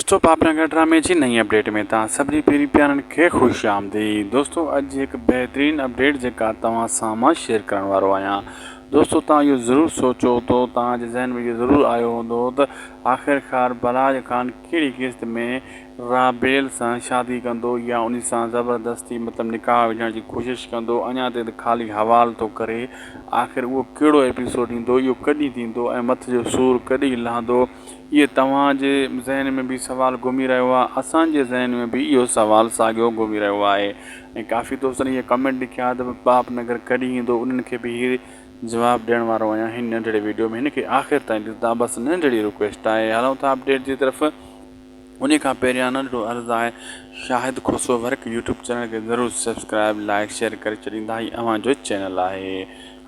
دوستو پاپڙانگا ڊرامي جي نئين اپڊيٽ ۾ توهان سڀني پيرين پيارن کي خوش آمديد دوستو اڄ جي هڪ بهترين اپڊيٽ جيڪا توهان سان مان شيئر ڪرڻ وارو آهيان دوستو توهان اهو ضرور سوچيو هوندو توهان جي ذهن ۾ اهو ضرور آيو هوندو ته آخرڪار بلراج خان ڪهڙي قسط ۾ رابيل سان شادي ڪندو يا ان سان زبردستي مطلب نڪاح وجهڻ جي ڪوشش ڪندو اڃا تائين ته خالي حوال ٿو ڪري آخر اهو ڪهڙو ايپيسوڊ ايندو اهو ڪڏهن ٿيندو ۽ مٿ جو سور ڪڏهن لهندو اهي توهان جي ذهن ۾ به سوال گهمي رهيو آهي اسان جي ذهن ۾ به اهو سوال ساڳيو گهمي رهيو آهي ۽ ڪافي دوستن اهي ڪمينٽ لکيا ته پاپ نگر ڪڏهن ايندو انهن کي به اهي جواب ڏيڻ وارو آهيان هن ننڍڙي ويڊيو ۾ هن کي آخر تائين ڏسندا بس ننڍڙي رڪويسٽ آهي هلون ٿا اپڊيٽ جي طرف انهي کان پهريان ننڍڙو عرض آهي Shahid Khusro work YouTube channel کي ضرور سبسڪرائب لائيڪ شيئر ڪري ڇڏيندا هي اوهان جو چينل آهي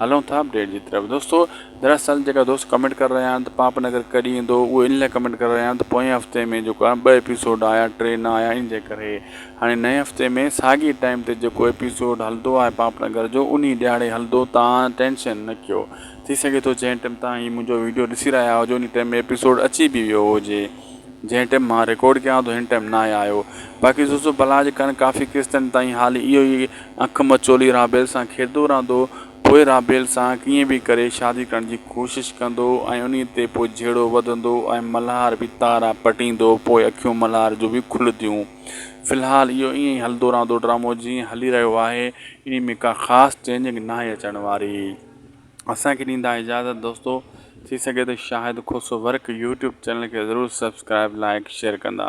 هلون ٿا اپڊيٽ جي طرف دوستو دراصل جيڪا دوست ڪمينٽ ڪري رهيا آهن ته پاپ نگر ڪڏهن ايندو اهي ان لاء ڪمينٽ ڪري رهيا آهن ته پوئين هفتي ۾ جيڪو آهي ٻه ايپيسوڊ آيا ٽي نه آيا ان جي ڪري هاڻي نئين هفتي ۾ ساڳي ٽائيم تي جيڪو ايپيسوڊ هلندو آهي پاپ نگر جو انهي ڏهاڙي هلندو تان ٽينشن نه ڪيو ٿي سگهي ٿو جنهن ٽيم تان هي منهنجو ويڊيو ڏسي رهيا هجو انهي ٽيم ايپيسوڊ اچي به ويو هجي جنهن ٽيم مان رڪارڊ ڪيان ٿو هن ٽيم ناهي آيو باقي زوزو بلا جي ڪرڻ ڪافي قسطن تائين حال اهو ئي اک مچولي رابيل سان کيڏندو رهندو پوء رابيل سان ڪيئن به ڪري شادي ڪرڻ جي ڪوشش ڪندو ۽ انهي تي پوء جهيڙو وڌندو ۽ ملهار به تارا پٽيندو پوء اکيون ملهار جون به کلنديون في الحال اهو ائين ئي هلندو رهندو ڊرامو جيئن هلي رهيو آهي انهي ۾ ڪا خاص چينجنگ ناهي اچڻ واري. اسان کي ڏيندا اجازت دوستو ٿي سگهي ته Shahid Khoso work YouTube channel کي ضرور سبسڪرائب لائيڪ شيئر ڪندا.